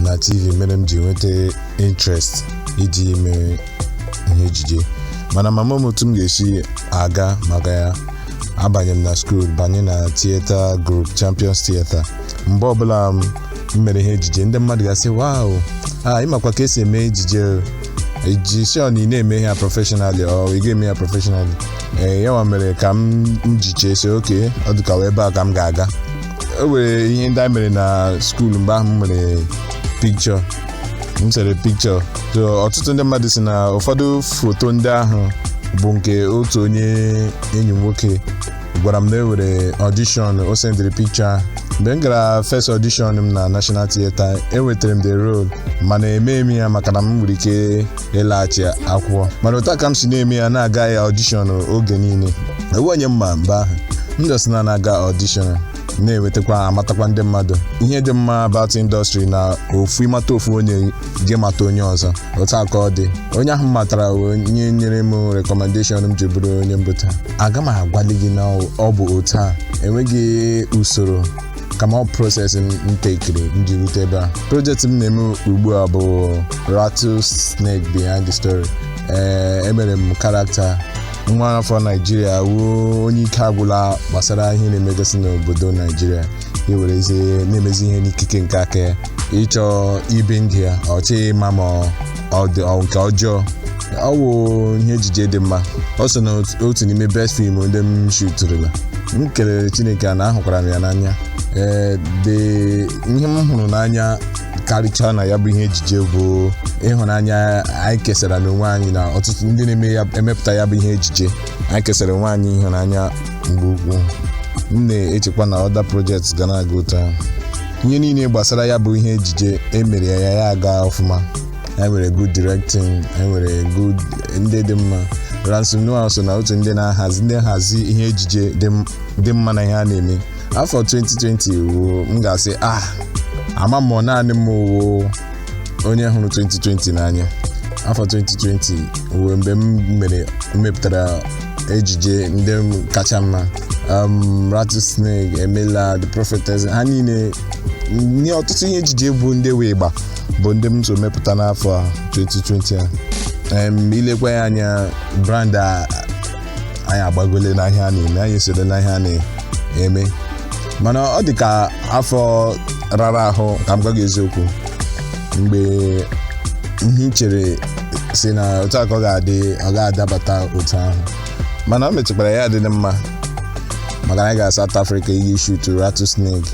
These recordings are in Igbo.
na tv mere m ji nweta interest iji ime ihe ejije mana m ama m otu m ga-esi aga maka ya abanye m na school banye na theatre group champions theatre mgbe ọbụla m mere ihe ejije ndị mmadụ ga-asị wow a ịmakwa ka esi eme ejije ị dị sure na ị na-eme ihe a professionally or ị ga-eme ya professionally ee yanwa mere ka m m ji chee sị okay ọ dị ka ọ wụ ebe a ka m ga-aga e nwere ihe ndị anyị mere na school mgbe ahụ m mere picture m sere picture so ọtụtụ ndị mmadụ si na ụfọdụ foto ndị ahụ bụ nke otu onye enyi m nwoke gwara m na e nwere audition o sendịrị picture mgbe m gara first audition m na National Theatre enwetara m the role mana emee m ya maka na m nwere ike ịlaghachi akwụkwọ mana otu a ka m si na-eme ya na-aga ya audition oge niile enweghị onye m ma mgbe ahụ m just na na-aga audition na-enwetakwa amatakwa ndị mmadụ ihe dị mma about industry na ofu ị mata ofu onye gị amata onye ọzọ otu a ka ọ dị onye ahụ m matara wụ onye nyere m recommendation m ji bụrụ onye m bụ taa aga m agwali gị na ọ bụ otu a enweghị usoro kama ọ process m tekiri m ji rute ebe a project m na-eme ugbu a bụ rattlesnake the ahanna story ee emere m character nwa afọ naijiria wụ onye ike agwụla gbasara ihe na-emegasị n'obodo naijiria iwerezi na-emezi ihe n'ikike nke aka ya ịchọ ibi ndụ ya ọ chọghị ịma ma ọ dị ọ nke ọjọọ ọ wụ ihe ejije dị mma ọ so na otu n'ime best film ndị m shuturula m kelere chineke a na ahụkwara m ya n'anya ee the ihe m hụrụ n'anya karịchaa na ya bụ ihe ejije bụ ịhụnanya anyị kesara n'onwe anyị na ọtụtụ ndị na-eme ya emepụta ya bụ ihe ejije anyị kesara onwe anyị ịhụnanya nke ukwuu m na-echekwa na other project ga na-aga otu a ihe niile gbasara ya bụ ihe ejije emere ya ya aga ọfụma anyị nwere good directing anyị nwere good ndị dị mma ramsey nouah so na otu ndị na-ahazi ndị nhazi ihe ejije dị m- dị mma na ihe ha na-eme afọ 2020 wụ m ga-asị ah ama m ma ọ naanị m wụ onye hụrụ 2020 n'anya afọ 2020 wụ mgbe m mere m mepụtara ejije ndị kacha mma um, rattlesnake imela the prophetess ha niile na ọtụtụ ihe ejije bụ ndị wụ ịgba bụ ndị m so mepụta n'afọ a 2020 a Em, i lekwa ya anya brand a anyị agbagole n'ihe a na-eme anyị esoro n'ihe a na-eme mana ọ dị ka afọ rara ahụ ka m gwa gị eziokwu mgbe ihe i chere sị na otu a ka ọ ga-adị ọ ga-adabata otu ahụ mana o mechakwara ya dị mma maka na anyị gara South Africa iji shoot Rattlesnake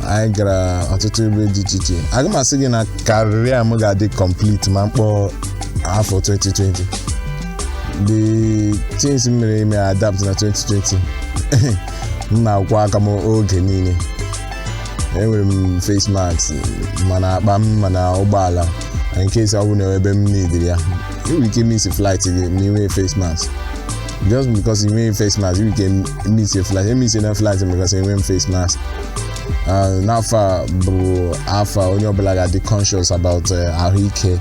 anyị gara ọtụtụ ebe dị iche iche aga m asị gị na career m ga-adị complete ma m kpọ afọ 2020 the things m mere ime adapt na 2020 m na-akwọ aka m oge niile enwere m face mask ma n'akpa m ma n'ụgbọala in case ọ bụ na ebe m needịrị ya i nwere ike miss flight gị ma ị nweghị face mask just because ị nweghị face mask i nwere ike miss flight emiss na flight because enwe m face mask n'afọ a bụ afọ onye ọbụla ga-adị conscious about ahụike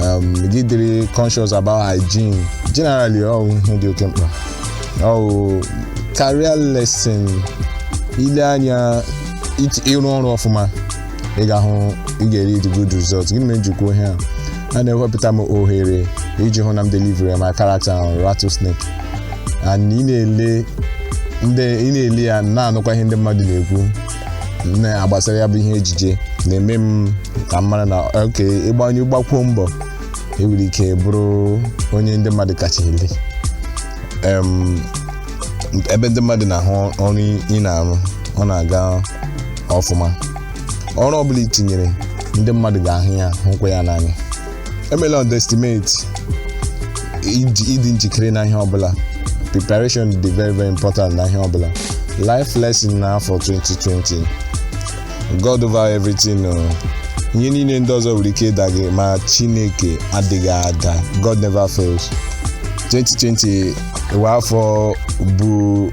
um, gị dịrị conscious about hygiene generally ọ bụ ihe dị oke mkpa ọ bụ career lesson ile anya it- ịrụ ọrụ ọfụma ị ga-ahụ ị ga-eri the good results gịnị mere m ji kwuo ihe a a na-ewepụta m ohere iji hụ na m deliver my character on Rattlesnake and ị na-ele ndị ị na-ele ya na-anụkwa ihe ndị mmadụ na-ekwu n'ihe gbasara ya bụ ihe ejije na-eme m ka m mara na okay ị gbanye gbakwuo mbọ i nwere ike bụrụ onye ndị mmadụ kacha ele Em, ebe ndị mmadụ na-ahụ ọrụ ị na-arụ ọ na-aga ọfụma ọrụ ọbụla i tinyere ndị mmadụ ga-ahụ ya hụkwa ya n'anya emela underestimate iji- ịdị njikere na ihe ọbụla preparation dị very very important na ihe ọbụla life lesson n'afọ 2020 god over everything o ihe niile ndị ọzọ nwere ike ịda gị ma chineke adịghị ada god never fails 2020 wụ afọ bụ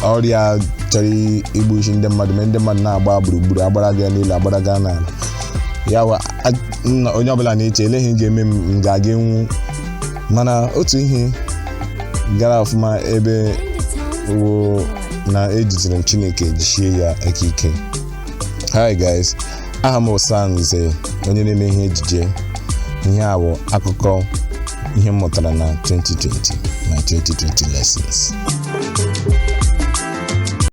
ọrịa chọrọ igbusi ndị mmadụ mee ndị mmadụ na-agba gburugburu agbaraga n'elu agbaraga n'ala ya wa a- nna- onye ọbụla na-eche elee ihe ga-eme m m ga-aga anwụ mana otu ihe gara ọfụma ebe wụ na ejidere m chineke jichie ya aka ike hi guys aha m wụ Stan Nze onye na-eme ihe ejije ihe a bụ akụkọ ihe m mụtara na 2020 my 2020 lessons